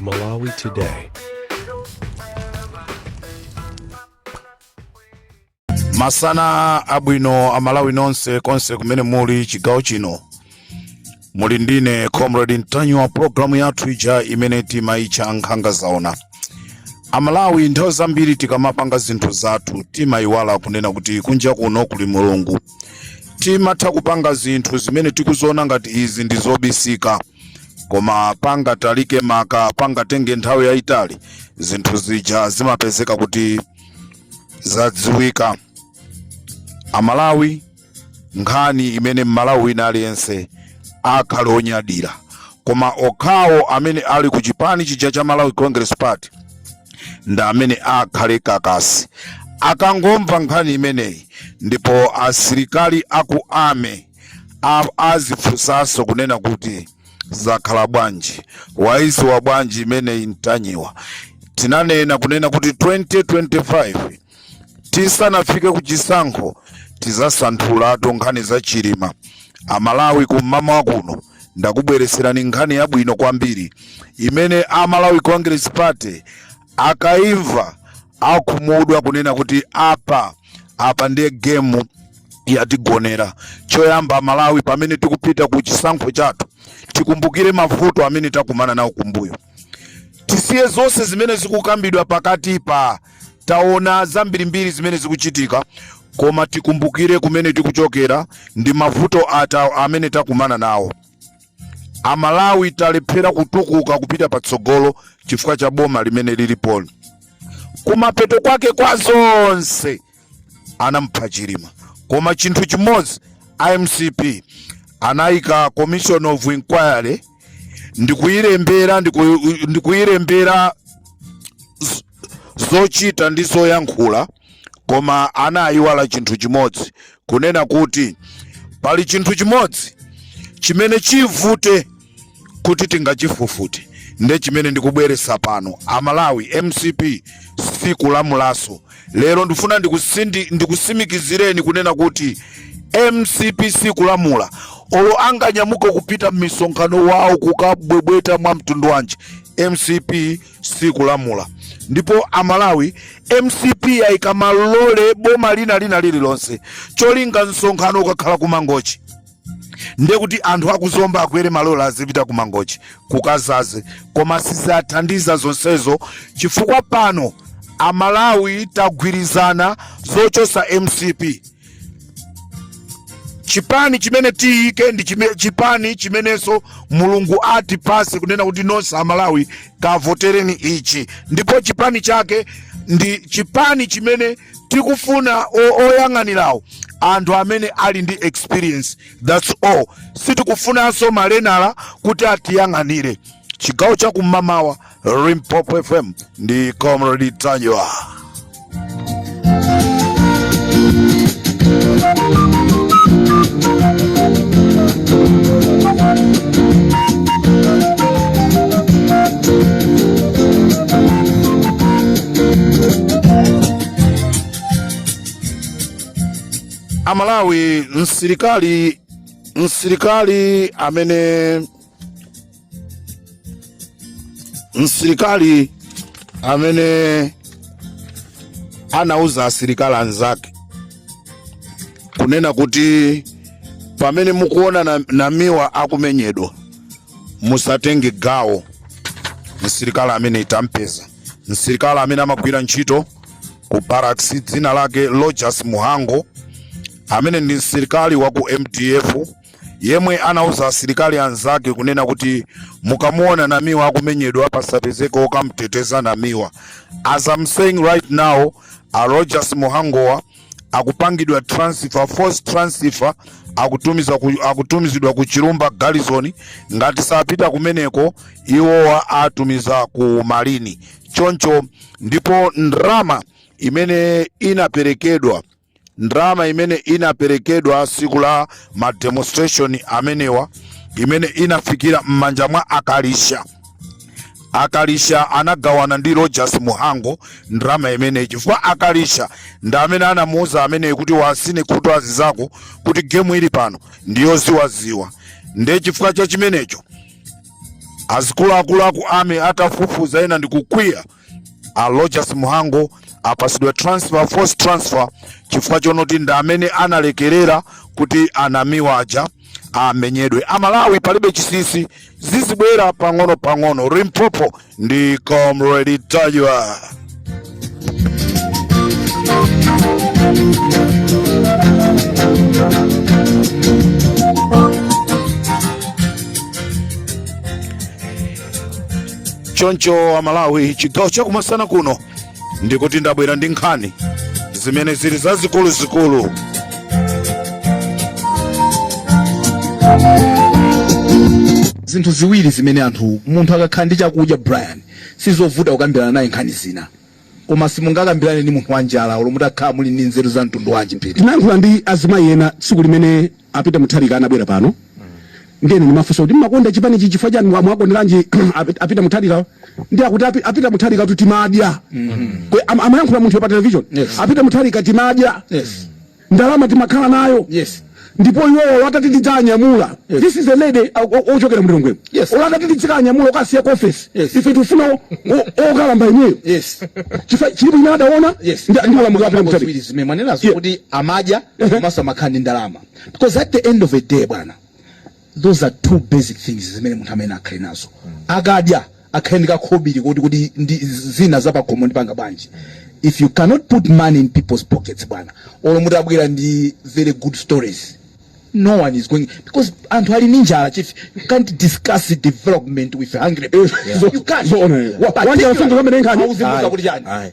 Malawi Today. masana abwino amalawi nonse konse kumene muli chigawo chino muli ndine comrade mtanyiwa programu yathu ija imene timayitcha nkhanga zaona amalawi nthawi zambiri tikamapanga zinthu zathu timayiwala kunena kuti kunja kuno kuli mulungu timatha kupanga zinthu zimene tikuziona ngati izi ndi zobisika koma pangatalike maka pangatenge nthawi yayitali zinthu zija zimapezeka kuti zadziwika amalawi nkhani imene mmalawi wina aliyense akhale onyadira koma okhawo amene ali ku chipani chija cha malawi congress party ndi amene akhale kakasi akangomva nkhani imeneyi ndipo asilikali aku army azifunsanso kunena kuti zakhala bwanji waiziwa bwanji imeneyi mtanyiwa tinanena kunena kuti 2025 tisanafike ku chisankho tidzasanthulatu nkhani za chilima amalawi kum'mamawa kuno ndakubweretserani nkhani yabwino kwambiri imene a malawi congress party akaimva akhumudwa kunena kuti apa apa ndiye gemu yatigonera choyamba amalawi pamene tikupita ku chisankho chathu tikumbukire mavuto amene takumana nawo kumbuyo tisiye zonse zimene zikukambidwa pakatipa Taona zambirimbiri zimene zikuchitika koma tikumbukire kumene tikuchokera ndi mavuto ata amene takumana nawo. Amalawi talephera kutukuka kupita patsogolo chifukwa cha boma limene lilipoli. Kumapeto kwake kwa zonse anamupha chilima koma chinthu chimodzi a mcp anayika commission of inquiry ndikuyilembera ndiku- ndikuyilembera z- zochita ndi zoyankhula koma anayiwala chinthu chimodzi kunena kuti pali chinthu chimodzi chimene chivute kuti tingachifufute nde chimene ndikubweresa pano amalawi mcp sikulamulaso lero ndifuna ndikusindi ndikusimikizireni kunena kuti mcp sikulamula olo anganyamuke kupita mmisonkhano wawo kukabwebweta mwa mtundu wanji mcp sikulamula ndipo amalawi mcp ayika malole boma lina lililonse cholinga msonkhano ukakhala kumangochi ndiye kuti anthu akuzomba akwere malole azipita ku mangochi kukazaze koma sizathandiza zonsezo chifukwa pano amalawi tagwirizana zochosa mcp chipani chimene tiyike ndi chime, chipani chimenenso mulungu atipase kunena kuti nonse amalawi kavotereni ichi ndipo chipani chake ndi chipani chimene tikufuna oyang'anirawo anthu amene ali ndi experience that's all sitikufunanso malenala kuti atiyang'anire chigawo cha kum'mawa limpopo fm ndi comrade ntanyiwa amalawi msilikali msilikali amene msilikali amene anauza asilikali anzake kunena kuti pamene mukuona na, namiwa akumenyedwa musatenge gawo msilikali amene tampeza msilikali amene amagwira ntchito ku barracks dzina lake Rogers Muhango amene ndi msilikali wa ku MDF yemwe anauza asilikali anzake kunena kuti mukamuona Namiwa akumenyedwa pasapezeke okamteteza Namiwa. As I'm saying right now, a Rogers Muhangowa akupangidwa transfer force transfer akutumiza ku, akutumizidwa ku chilumba garrison ngati sapita kumeneko iwowa awatumiza ku marine choncho ndipo ndrama imene inaperekedwa ndrama imene inaperekedwa siku la mademonstration amenewa imene inafikira m'manja mwa akalisha akalisha anagawana ndi Rogers Muhango ndalama imeneyi chifukwa akalisha ndi amene anamuuza ameneyi kuti wasine khutu azizako kuti gemu ili pano ndiyoziwaziwa ndiye chifukwa cha chimenecho azikuluakulu aku army atafufuza ena ndikukwiya a Rogers Muhango apasidwa transfer force transfer chifukwa chonoti ndi amene analekerera kuti anamiwa aja amenyedwe. Amalawi palibe chisisi, zizibwera pang'ono pang'ono. Limpopo ndi Comrade Ntanyiwa. choncho amalawi chigawo chakumasana kuno ndikuti ndabwera ndi nkhani zimene zili zazikuluzikulu zinthu ziwiri zimene anthu munthu akakhala ndi chakudya brian sizovuta kukambirana naye nkhani zina Koma simungakambilane ndi munthu wanjala olo mutakhala muli ndi nzeru za mtundu wanji Peter. Tinayankhula ndi azimayi ena tsiku limene a Peter Mutharika anabwera pano ndiye ine ndimafunsa kuti mmakonda chipanichi chifukwa chani mwakonderanji a Peter Mutharika ndiye akuti a Peter Mutharikatu timadya amayankhula munthuyo pa television a Peter Mutharika timadya ndalama timakhala nayo yes ndipo iwowo atati tidzanyamula yes. this is a lady ochokera m'Lilongwe yes. olo atati tidzikanyamula okasiya ku office yes. ife tifuna okalamba ineyo yes. chilipo chimene adaona yes. ndalama kwa Peter Mutharika zimene mwanenazo kuti amadya komanso amakhala ndi ndalama because at the end of the day bwana those are two basic things zimene munthu amayenera akhale nazo akadya akhale ndi kakhobili kuti zina za pakhomo ndipanga bwanji if you cannot put money in people's pockets bwana olo mutabwera ndi very good stories no one is going because anthu ali ndi njala chief you can't discuss development with hungry people you can't Zoona. Wa- Particularly- wanjala wasunga kwamene nkhani? Uzimuuza Ayi. kuti chani Ayi.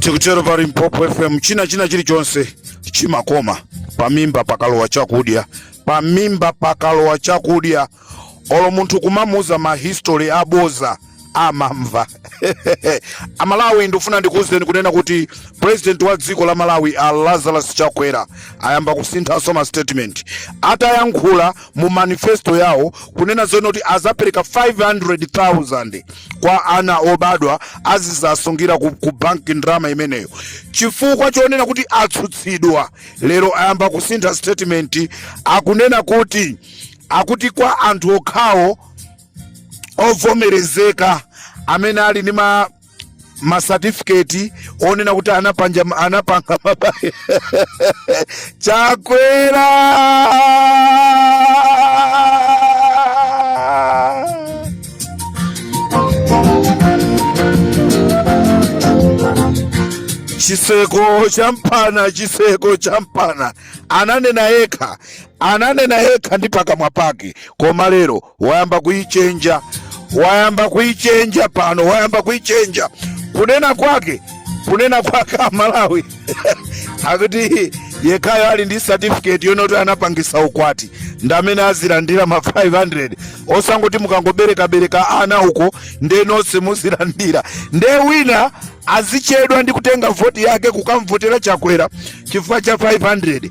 tikutero pa limpopo fm china china chilichonse chimakoma pamimba pakalowa chakudya pamimba pakalowa chakudya olo munthu kumamuuza ma history aboza amamva amalawi ndikufuna ndikuuzeni kunena kuti president wa dziko la malawi a lazarus chakwera ayamba kusinthanso ma statement atayankhula mu manifesto yawo kunena zonena kuti azapereka 500000 kwa ana obadwa azizasungira ku, ku banki ndrama imeneyo chifukwa chonena kuti atsutsidwa lero ayamba kusintha statement akunena kuti akuti kwa anthu okhawo ovomerezeka amene ali ndi masatifiketi onena kuti anapanga anapanga mabaya chakwera chiseko champana chiseko champana ananena yekha ananena yekha ndi pakamwa pake koma lero wayamba kuichenja wayamba kuichenja pano wayamba kuichenja kunena kwake kunena kwake amalawi akuti yekhayo ali ndi certificate yonoti anapangisa ukwati ndamene azilandira ma 500 osangoti mukangoberekabereka ana uko nde nonse muzilandira nde wina azichedwa ndi kutenga voti yake kukamvotera chakwera chifukwa cha 500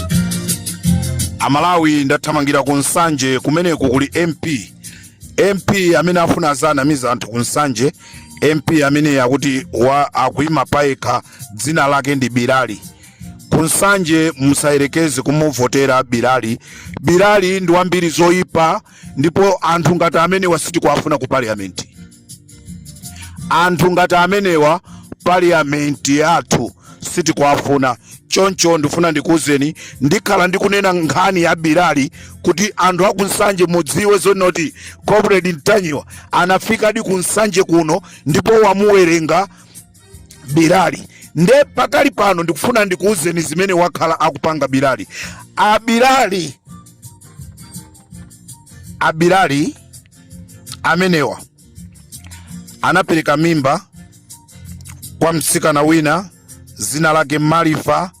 amalawi ndathamangira ku nsanje kumeneko kuli mp mp amene afuna azanamiza anthu ku nsanje mp amene akuti wa akuima payekha dzina lake ndi bilali ku nsanje musayerekeze kumuvotera bilali bilali ndi wambiri zoyipa ndipo anthu ngati amenewa sitikuwafuna ku parliament anthu ngati amenewa parliamenti yathu sitikuwafuna choncho ndifuna ndikuwuzeni ndikhala ndikunena nkhani ya bilali kuti anthu aku nsanje mudziwe zonoti comrade ntanyiwa anafikadi ku nsanje kuno ndipo wamuwerenga bilali nde pakali pano ndikufuna ndikuwuzeni zimene wakhala akupanga bilali abilali abilali amenewa anapereka mimba kwa mtsikana wina zina lake marifa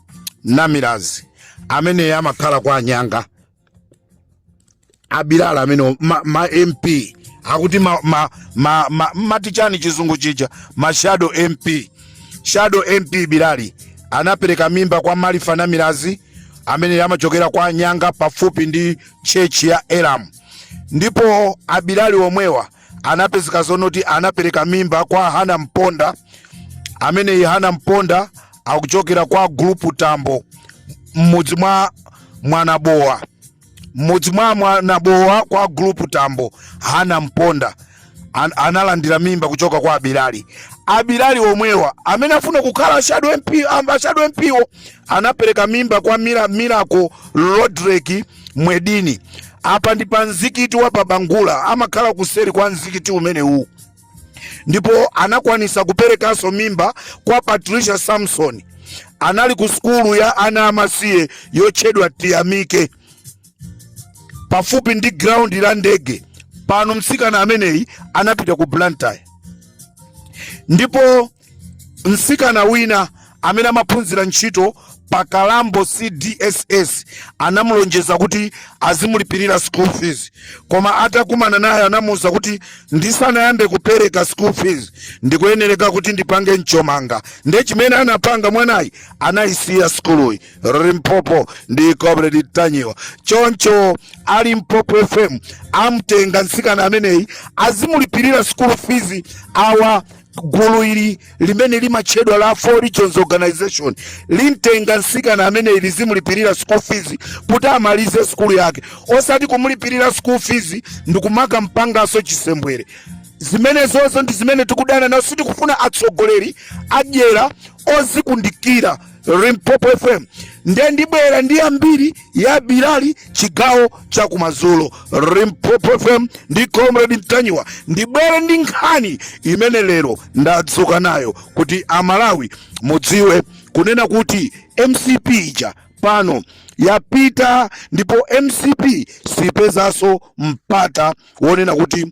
namilazi ameneyo amakhala kwa anyanga abilali amenewa ma mp akuti ma, ma, ma, ma, amati chani chizungu chija ma shadow mp shadow mp bilali anapereka mimba kwa marifa namilazi amene amachokera kwa anyanga pafupi ndi chechi ya elamu ndipo abilali omwewa anapezeka zonoti anapereka mimba kwa hana mponda ameneyi hana mponda akuchokera kwa gulupu tambo m'mudzi mwa mwanabowa m'mudzi mwa mwanabowa kwa gulupu tambo hana mponda an, analandira mimba kuchoka kwa Abilali. Abilali omwewa amene afuna kukhala shadow MP, um, shadow MP-wo anapereka mimba kwa Mira, Miracle Rodrick Mwedini. Apa ndi pa mzikiti wa pa Bangula, amakhala kuseri kwa mzikiti umenewu ndipo anakwanisa kuperekanso mimba kwa Patricia Samson. Anali ku sukulu ya ana amasiye yotchedwa Tiyamike. pafupi ndi ground la ndege pano mtsikana ameneyi anapita ku blantyre ndipo mtsikana wina amene amaphunzira ntchito pa kalambo cdss anamulonjeza kuti azimulipirira school fees koma atakumana naye anamuwuza kuti ndisanayambe kupereka school fees ndikuyenereka kuti ndipange mchomanga nde chimene anapanga mwanayi anayisiya sukuluyi limpopo ndi comrade mtanyiwa choncho a limpopo fm amtenga mtsikana ameneyi azimulipirira school fees awa gulu ili limene limatchedwa la four regions organization limtenga mtsikana ameneyi lizimulipirira school fees kuti amalize skulu yake osati kumulipirira school fees ndikumakampangaso chisembwere zimenezozo ndi zimene tikudana nazo sitikufuna atsogoleri adyera ozikundikira Limpopo FM ndiye ndibwera ndi yambiri ya Bilali chigawo cha kumadzulo. Limpopo FM ndi Comrade Mtanyiwa ndibwere ndi nkhani imene lero ndadzuka nayo kuti Amalawi mudziwe kunena kuti MCP ija pano yapita ndipo MCP sipezanso mpata wonena kuti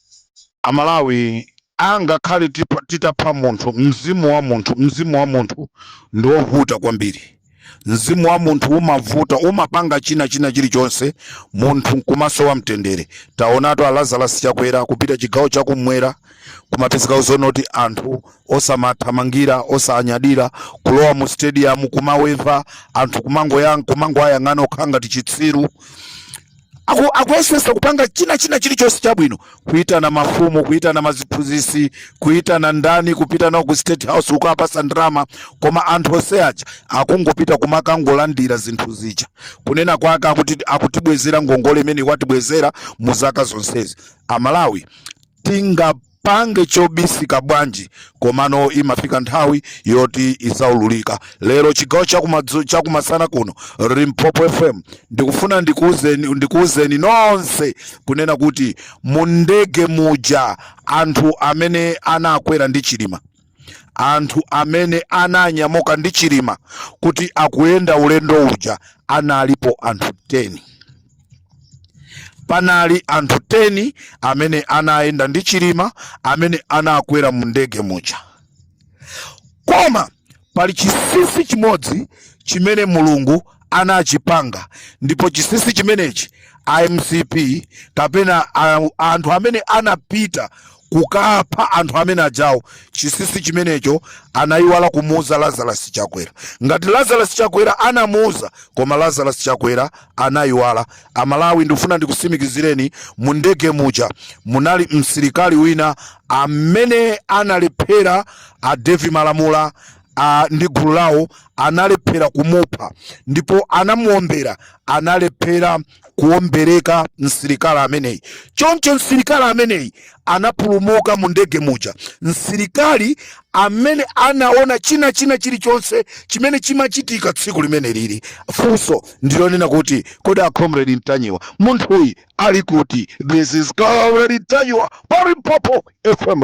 Amalawi angakhale titapha munthu mzimu wa munthu mzimu wa munthu ndi ovuta kwambiri mzimu wa munthu umavuta umapanga china china chilichonse munthu nkumasowa mtendere taonatu a Lazarus Chakwera kupita chigawo chakumwera kumapezeka zonoti anthu osamathamangira osanyadira kulowa mu stadium kumaweva anthu kumangoayang'ana okhaokha ngati chitsiru akuyesesa kupanga china china chilichonse chabwino kuitana mafumu kuitana maziphunzisi kuitana ndani kupita nawo ku state house kukaapasa ndalama koma anthu onse aja akungopita kumakangolandira zinthu zija kunena kwake akutibwezera ngongole imene watibwezera mu zaka zonsezi amalawi tinga ingapange chobisika bwanji komano imafika nthawi yoti izaululika lero chigawo chakumasana kuno limpopo fm ndikufuna ndikuuzeni nonse kunena kuti mu ndege muja anthu amene anakwera ndi chilima anthu amene ananyamuka ndi chilima kuti akuyenda ulendo uja analipo anthu 10 panali anthu 10 amene anayenda ndi chilima amene anakwera mu ndege muja koma pali chisinsi chimodzi chimene mulungu anachipanga ndipo chisisi chimenechi a mcp kapena anthu amene anapita kukapha anthu amene ajawo chisisi chimenecho anayiwala kumuuza lazarus chakwera ngati lazarus chakwera anamuuza koma lazarus chakwera anayiwala amalawi ndikufuna ndikusimikizireni mu ndege muja munali msilikali wina amene analephera a devi malamula a, ndi gulu lawo analephera kumupha ndipo anamuombera analephera kuombereka msilikali ameneyi choncho msilikali ameneyi anapulumuka mu ndege muja msilikali amene anaona china china chilichonse chimene chimachitika tsiku limene lili funso ndilonena kuti kodi a comrade mtanyiwa munthuyi ali kuti this is comrade mtanyiwa pa Limpopo fm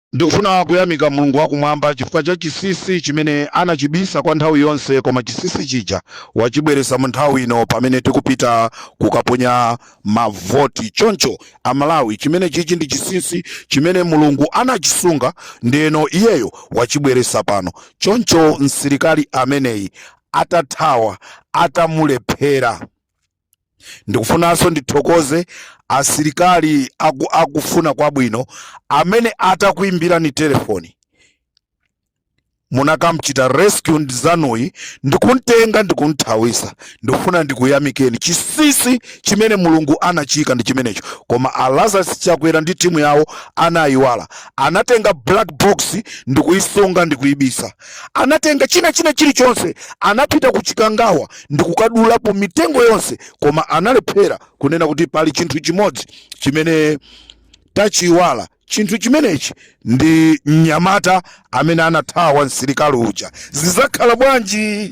Ndikufuna kuyamika Mulungu wa Kumwamba chifukwa cha chinsinsi chimene anachibisa kwa nthawi yonse koma chinsinsi chija wachibweretsa mu nthawi ino pamene tikupita kukaponya mavoti. Choncho a Malawi chimene chichi ndi chinsinsi chimene Mulungu anachisunga ndeno iyeyo wachibweretsa pano. Choncho msilikali ameneyi atathawa, atamulephera. Ndikufunanso ndithokoze asilikali aku, akufuna kwabwino amene atakuimbirani telefoni munakamchita rescue ndizanuyi ndikuntenga ndikunthawisa ndikufuna ndikuyamikeni chisisi chimene mulungu anachiika ndi chimenecho koma a lazarus chakwera ndi timu yawo anayiwala anatenga black box ndikuyisunga ndikuyibisa anatenga china china chilichonse anapita ku chikangawa ndi kukadulapo mitengo yonse koma analephera kunena kuti pali chinthu chimodzi chimene tachiwala chinthu chimenechi ndi mnyamata amene anathawa msilikali uja zizakhala bwanji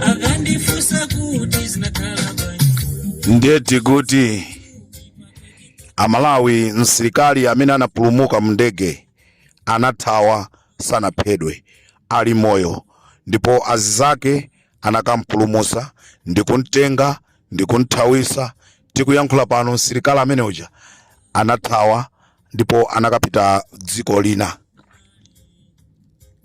akandifunsa kuti zinakhala bwanji ndeti kuti amalawi msilikali amene anapulumuka mndege anathawa sanaphedwe ali moyo ndipo azizake anakampulumusa ndikumtenga ndikumthawisa Tikuyankhula pano msilikali amene uja anathawa ndipo anakapita dziko lina,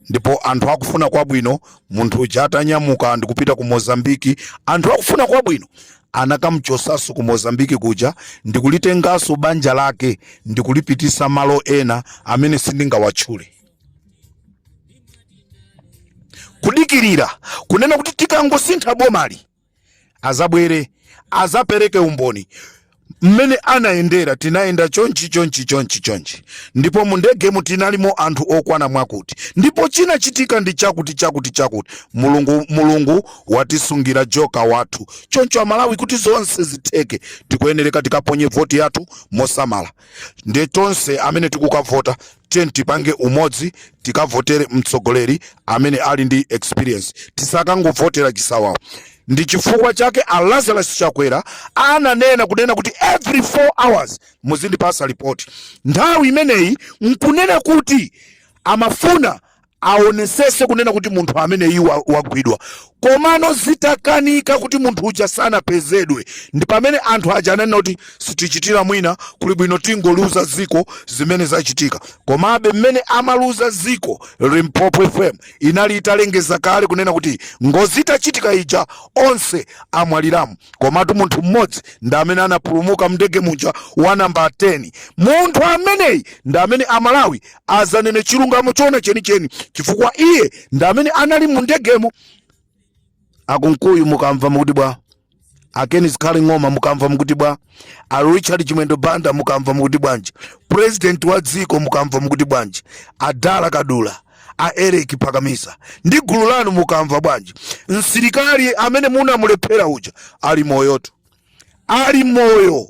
ndipo anthu akufuna kwabwino, munthu uja atanyamuka ndikupita ku Mozambiki, anthu akufuna kwabwino anakamchosaso ku Mozambiki kuja ndikulitengaso banja lake ndikulipitisa malo ena amene sindingawatchule. Kudikirira kunena kuti tikangosintha bomali azabwere azapereke umboni mmene anayendera tinayenda chonchi chonchi chonchi chonchi ndipo mu ndegemu tinalimo anthu okwana mwakuti ndipo chinachitika ndi chakuti chakuti chakuti mulungu mulungu watisungira joka wathu choncho amalawi kuti zonse zitheke tikuyenereka tikaponye voti yathu mosamala nde tonse amene tikukavota tiyeni tipange umodzi tikavotere mtsogoleri amene ali ndi experience tisakangovotera chisawawa ndi chifukwa chake a lazarus chakwera ananena kunena kuti every 4 hours muzindipasa report nthawi imeneyi nkunena kuti amafuna aonesese kunena kuti munthu ameneyi wagwidwa komano zitakanika kuti munthu uja sanapezedwe ndi pamene anthu aja ananena kuti sitichitira mwina kuli bwino tingoliuza dziko zimene zachitika komabe mmene amaliuza dziko limpopo fm inali italengeza kale kunena kuti ngozi itachitika ija onse amwaliramo komatu munthu mmodzi ndi amene anapulumuka mndege muja wa namba 10 munthu ameneyi ndi amene amalawi adzanene chilungamo choona chenicheni chifukwa iye ndi amene anali mu ndegemo a kunkuyu mukamva mukuti bwa a ken zikhale ng'oma mukamva mukuti bwa a richard chimwendo banda mukamva mukuti bwanji president wa dziko mukamva mukuti bwanji a dala kadula a eric pakamisa ndi gulu lanu mukamva bwanji msilikali amene munamulephera uja ali moyotu ali moyo